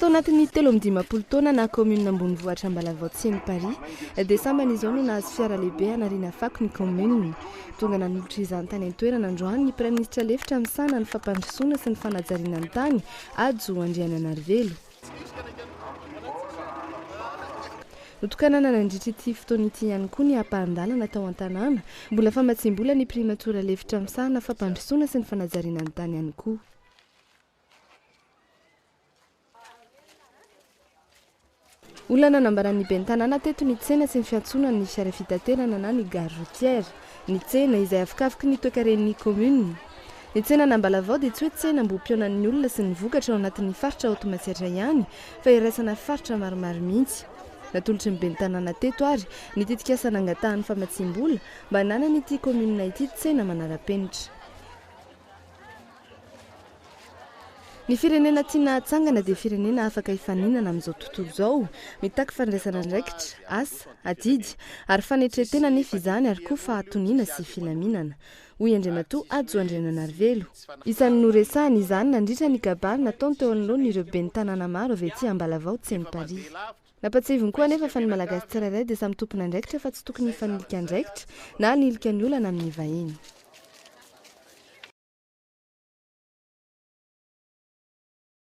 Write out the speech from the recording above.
Tao anatin'ny telo amby dimampolo taona naha kaominina ambonivohitra Ambalavao Tsiem Paris dia sambany izao no nahazo fiara lehibe hanariana fako ny kaominina. Tonga nanolotra izany tany an-toerana androany ny praiminisitra lefitra misahana ny fampandrosoana sy ny fanajariana ny tany, Hajo Andriananarivelo. Notokanana nandritra ity fotoana ity ihany koa ny ampahan-dalana tao an-tanàna. Mbola famatsiam-bola ny primatora lefitra misahana fampandrosoana sy ny fanajariana ny tany ihany koa. Olana nambaran'ny ben'ny tanàna teto ny tsena sy ny fiantsonan'ny fiara fitaterana na ny gare routière. Ny tsena, izay afokavoky ny toekaren'ny kaominina. Ny tsenan'Ambalavao dia tsy hoe tsenam-bohim-pihaonan'ny olona sy ny vokatra ao anatin'ny faritra ao Toamasihatra ihany fa iraisana faritra maromaro mihitsy. Natolotry ny ben'ny tanàna teto ary ny tetikasa nangatahan'ny famatsiam-bola mba hananan'ity kaominina ity tsena manara-penitra. Ny firenena tiana hatsangana dia firenena afaka hifaninana amin'izao tontolo izao, mitaky fandraisana andraikitra, asa, adidy, ary fanetren-tena anefa izany ary koa fahatoniana sy filaminana, hoy Andriamatoa Hajo Andriananarivelo. Isan'ny noresahany izany nandritra ny kabary nataony teo anoloan'ireo ben'ny tanàna maro avy aty Ambalavao Tsenimparihy. Nampahatsiahiviny koa anefa fa ny Malagasy tsirairay dia samy tompon'andraikitra fa tsy tokony hifanilika andraikitra na hanilika ny olana amin'ny vahiny.